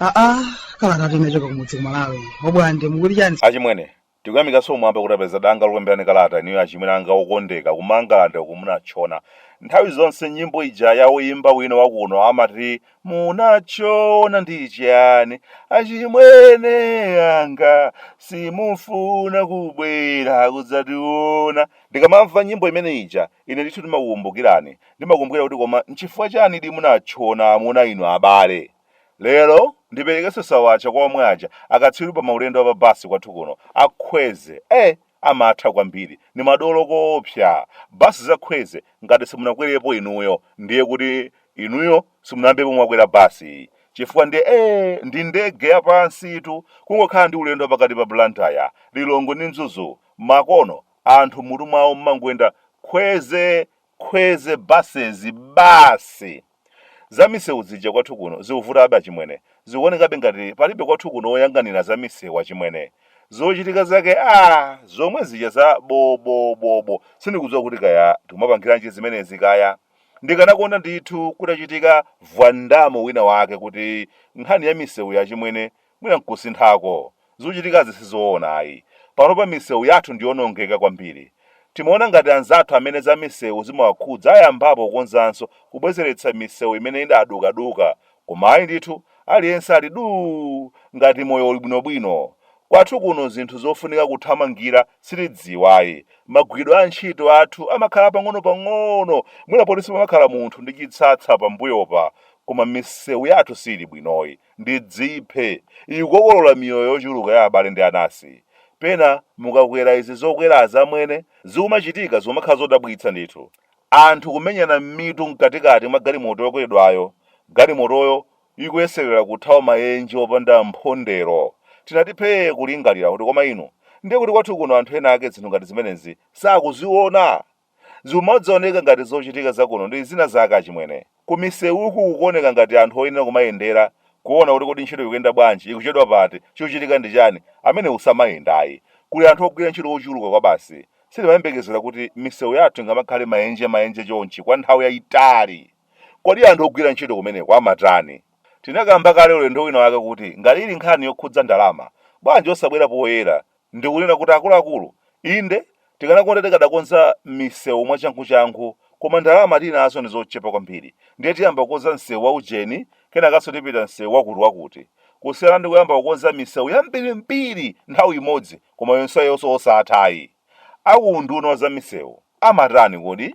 aa kala kati nachoka kumudzi kumalawi obwande mukuti chani achimwene Tikuyamikanso kumwamba kuti tapeza danga lokulemberani kalata inuyo achimwene anga okondeka ku mangalande uku munatchona nthawi zonse nyimbo ija ya oyimba wina wakuno amati munatchona ndi chani achimwene anga simufuna kubwera kudzationa ndikamamva nyimbo imene ija ine ndithu ndimakukumbukirani ndimakumbukira kuti koma nchifukwa chani di munatchona amuna inu abale Lero ndiperekenso sawacha kwa omwe aja akatswiri pa maulendo a pa bus kwathu kuno a Khweze eh amatha kwambiri ndi madolo koopsa bus za Khweze ngati simunakwerepo inuyo ndiye kuti inuyo simunayambepo mwakwera bus chifukwa ndi eh ndi ndege ya pansitu kungokhala ndi ulendo wa pakati pa Blantyre, Lilongwe ndi Mzuzu makono anthu mmutu mwawo mmangoyenda Khweze Khweze buses basi! Za misewu zija kwathu kuno zikuvutabe achimwene. Zikuonekabe ngati palibe kwathu kuno oyang'anira za misewu achimwene. Zochitika zake aah! Zomwe zija za bo bo bo bo. Sindikudziwa kuti kaya tikumapangiranji zimenezi kaya. Ndikanakonda ndithu kutachitika vwandamo wina wake kuti nkhani ya misewuyi achimwene Mwina nkusinthako. Zochitikazi sizoona ayi. Panopa misewu yathu ndiyonongeka kwambiri. Timaona ngati anzathu amene za misewu zimawakhudza ayambapo kukonzanso, kubwezeretsa misewu imene idadukaduka, koma ayi ndithu, aliyense ali duu! ngati moyo uli bwinobwino. Kwathu kuno zinthu zofunika kuthamangira sitidziwa ayi. Magwiridwe a ntchito athu amakhala pang'onopang'ono, mwina poti sipamakhala munthu ndi chitsatsa pambuyopa, koma misewu yathu siili bwinoyi. ndidziphe, ikukokolola miyoyo yochuluka ya abale ndi anasi. Pena mukakwera izi zokwera zimene, zikumachitika zikumakhala zodabwitsa ndithu. Anthu kumenyana mmitu mkatikati mwa galimoto yokweredwayo, galimotoyo ikuyeserera kuthawa mayenje opanda mphondero. Tinati phee kulingalira kuti koma inu, ndiye kuti kwathu kuno anthu ena ake zinthu ngati zimenezi sakuziona! Zikumangooneka ngati zochitika za kuno ndi zina zake achimwene. Ku misewuku kukuoneka ngati anthu oyenera kumayendera kuona kuti kodi ntchito ikuyenda bwanji, ikuchedwa pati, chikuchitika ndi chani, amenewo samayenda ayi. Kuli anthu ogwira ntchito ochuluka kwabasi. Sitimayembekezera kuti misewu yathu ingamakhale maenje maenje chonchi kwa nthawi yaitali. Kodi anthu ogwira ntchito kumeneko amatani? Tinakamba kale ulendo wina wake kuti ngati ili nkhani yokhudza ndalama, bwanji osabwera poyera Ndikunena kuti akuluakulu, inde, tikanakonda tikadakonza misewu mwachanguchangu koma ndalama tili nazo ndi zochepa kwambiri ndiye tiyamba kukonza msewu wa ujeni kenakanso tipita msewu wakutiwakuti kusiyana ndi kuyamba kukonza misewu yambirimbiri nthawi imodzi koma yonseyonso osatha ayi. A ku unduna wa zamisewu amatani kodi?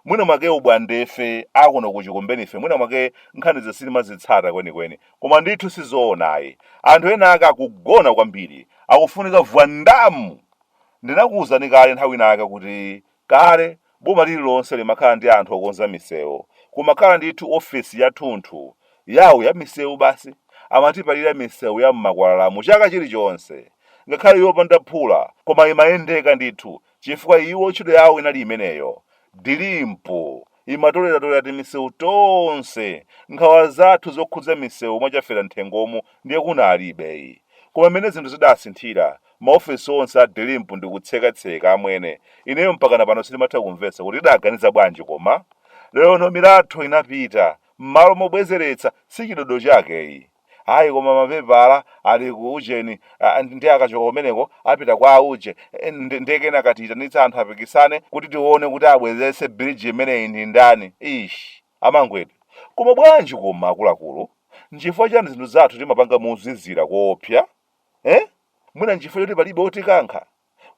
mwina mwake ubwandefe akuno kuchikumbenife mwina mwake nkhanizo sitimazitsata kwenikweni koma ndithu sizoona ayi anthu ena ake akugona kwambiri akufunika vwandamu ndinakuwuzani kale nthawi inake kuti kale boma lililonse limakhala ndi anthu okonza misewu kumakhala ndithu ofesi yathunthu yawo ya misewu basi amatipalira misewu ya m'makwalalamu chaka chilichonse ngakhale yopanda phula koma imayendeka ndithu chifukwa iwo ntchito yawo inali imeneyo. Dilimpu imatoleratolera timisewu tonse, nkhawa zathu zokhudza misewu mwa Chaferanthengomu ndiye kunalibe. Koma mmene zinthu zidasinthira, maofesi onse a Dilimpu ndi kutsekatseka, amwene, ineyo mpakana pano sindimatha kumvetsa kuti tidaganiza bwanji koma? Lerono milatho inapita, mmalo mobwezeretsa, si chidodo chake iyi. Ayi koma mapepala ali ku ujeni ah, ndi- ndi akachoka kumeneko apita kwa auje Eh, ndi- ndiye kenaka tiyitanitsa anthu apikisane kuti tione kuti abwezetse bridge imeneyi ndi ndani ish amangwetu koma bwanji koma akuluakulu nchifukwa chani zinthu zathu timapanga mozizira koopsa eh? mwina nchifukwa choti palibe otikankha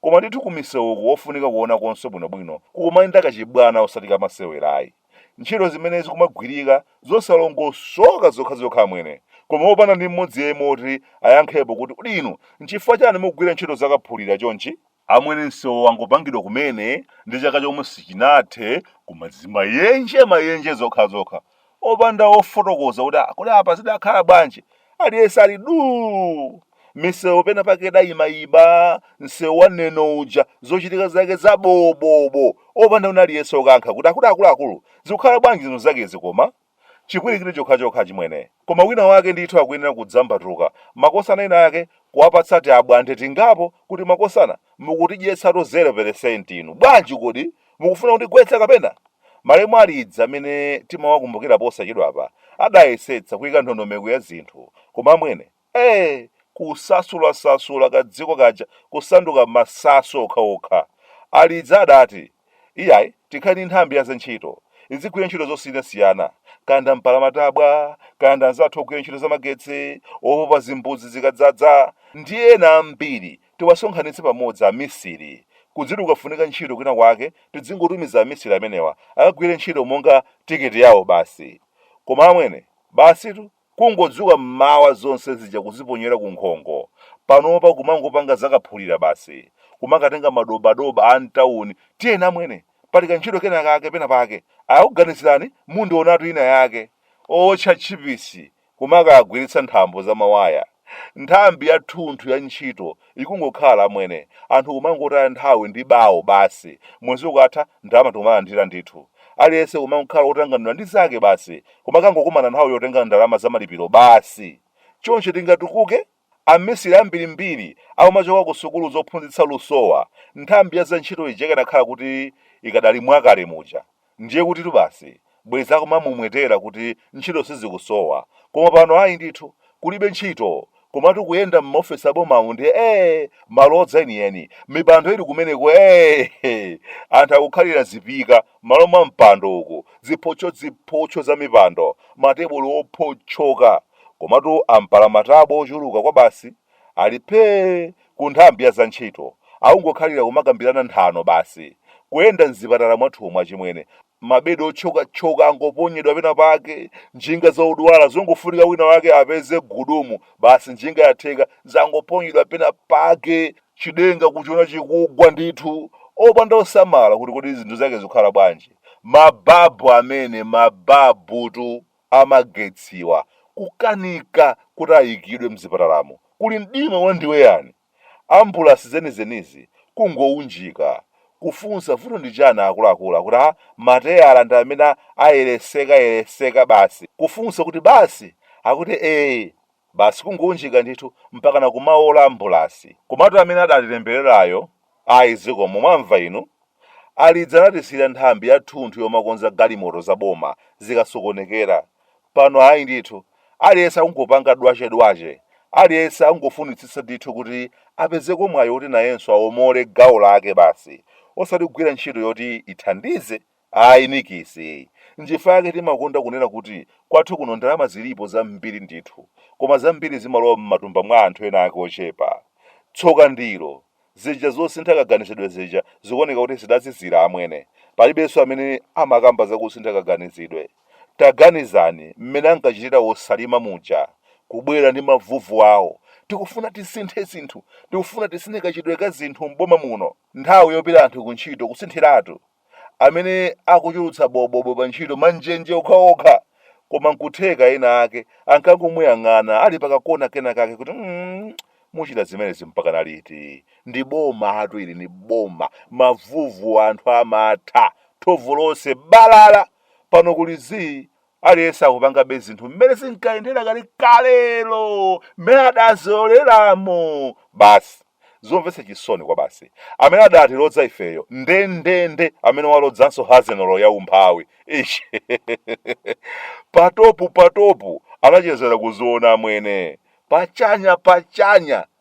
Koma ndithu kumisewuku wofunika kuonakonso bwinobwino kukumayenda kachibwana osati kamasewera ayi. Ntchito zimene zikumagwirika zosalongosoka zokhazokha amwene koma opanda ndi mmodzi yemwe woti ayankhepo kuti kodi inu nchifukwa chani mukugwira ntchito zakaphulira chonchi? Amwene msewu wangopangidwa kumene ndi chaka chomwe sichinathe koma zimayenje mayenje zokhazokha opanda wofotokoza kuti ah, kodi apa zidakhala bwanji aliyense ali duu misewu pena pake idayimayiba msewu wa neno uja zochitika zake zabobobo opanda wina aliyense okankha kuti akuluakulu zikukhala bwanji zinthu zakezi koma chipwirikiti chokhachokha chimwene koma wina wake ndithu akuyenera kudzambatuka makosana ena ake kuwapatsa tiabwande tingapo kuti makosana mukutidyetsatu 0 peresenti inu bwanji kodi Mukufuna kutigwetsa kapena? Malemu Alidzi amene timawakumbukira posachedwapa adayesetsa kuika ndondomeko ya zinthu koma amwene ee! Kusasulasasula kadziko kaja kusanduka masasu okhaokha. Alidzi adati, Iyayi, tikhale ndi nthambi ya zantchito, izigwira ntchito zosiyanasiyana, kaya ndi ampalamatabwa, kaya ndi anzathu ogwira ntchito zamagetsi, opopa zimbudzi zikadzadza, ndi ena ambiri. Tiwasonkhanitse pamodzi amisiri, kudziti kukafunika ntchito kwina kwake tidzingotumiza amisiri amenewa akagwire ntchito monga ticket yawo basi. Koma amwene, basitu, kungodzuka mmawa zonse zija kuziponyera ku nkhongo. Panopa kumangopanga za kaphulira basi, kumakatenga madobadoba a mtauni, tiyeni amwene, pali kantchito kena kake pena pake, akakuganizirani mundionatu ina yake. Owotcha tchipisi kumakagwiritsa nthambo za mawaya. Nthambi ya thunthu ya ntchito ikungokhala, amwene, anthu kumangotaya nthawi ndi bawo basi, mwezi ukatha ndalama tikumalandira ndithu. Aliyense kumangokhala otanganidwa ndi zake basi, kumakangokumana nthawi yotenga ndalama za malipiro basi. Choncho tingatukuke? Amisiri ambirimbiri akumachoka ku sukulu zophunzitsa lusowa, nthambi ya za ntchito ija ikanakhala kuti ikadali mwakale muja, ndiye kutitu basi bwezi akumamwemwetera kuti ntchito sizikusowa, koma pano ayi ndithu, kulibe ntchito, komatu kuyenda m'maofesi a bomamu ndiye ee! malodza enieni, mipando ili kumeneko ee! anthu akukhalira zipika M'malo mwa mpando uku ziphotchoziphotcho za mipando, matebulo ophotchoka, komatu ampalamatabwa ochuluka kwabasi ali phee ku nthambi ya za ntchito, akungokhalira kumakambirana nthano basi. Kuyenda m'zipatala mwathumu achimwene, mabedi otchokatchoka angoponyedwa pena pake, njinga za odwala zongofunika wina wake apeze gudumu basi njinga yatheka zangoponyedwa pena pake, Chidenga kuchiona chikugwa ndithu, opanda osamala kuti kodi zinthu zake zikhala bwanji. Mababu amene, mababutu a magetsiwa, kukanika kuti ayikidwe mzipatalamu. Kuli mdima wandiweyani. Ambulasi zenizenizi kungounjika. Kufunsa vuto ndi chani akuluakulu akuti ah mateyala ndi amene aperesekapereseka basi. Kufunsa kuti basi? Akuti eeh. Basi kungounjika ndithu mpakana kumaola ambulasi. Komatu amene adatitembererayo ayi zikomo mwamva inu? Alidzi, anatisiyira nthambi yathunthu yomakonza galimoto za boma zikasokonekera. Pano ayi ndithu. Aliyense akungopanga dwache dwache. Aliyense akungofunitsitsa ndithu kuti apezeko mwayi woti nayenso aomole gawo lake basi osati kugwira ntchito yoti ithandize Ayi nikisi. Nchifukwa yake timakonda kunena kuti kwathu kuno ndalama zilipo zambiri ndithu, koma zambiri zimalowa m'matumba mwa anthu ena ake ochepa. Tsoka ndilo, zija zosintha kaganizidwe zija zikuoneka kuti zidazizira amwene. Palibenso amene amakamba za kusintha kaganizidwe. Taganizani mmene ankachitira a Chilima muja, kubwera ndi mavuvu awo, tikufuna tisinthe zinthu, tikufuna tisinthe kachitidwe ka zinthu m'boma muno. Nthawi yopita anthu kuntchito kusinthiratu amene akuchulutsa bobobo pa ntchito manjenje okhaokha koma nkutheka ena ake ankangomuyang'ana ali pakakona kena kake kuti mm, muchita zimenezi mpakana liti ndi bomatu ili ni boma mavuvu anu amatha thovu lonse balala pano kuli zii Aliyense akupangabe zinthu mmene zinkayendera kale kalelo, mmene adazolowereramo. Basi. Zomvetsa chisoni kwabasi. Amene adatilodza ifeyo, nde nde nde amene walodzanso hazenolo ya umphawi. Ish. patopu patopu anachezera kuziona mwene. Pachanya pachanya.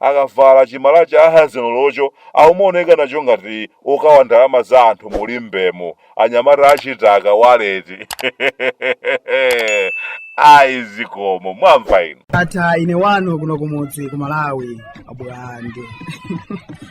akavala chimalaya cha hazenolocho aumaoneka nacho ngati okawa ndalama za anthu mulimbemo anyamata achitaka waleti ayi zikomo mwamva inu Ndatha ine wanu kuno kumudzi ku Malawi abulande.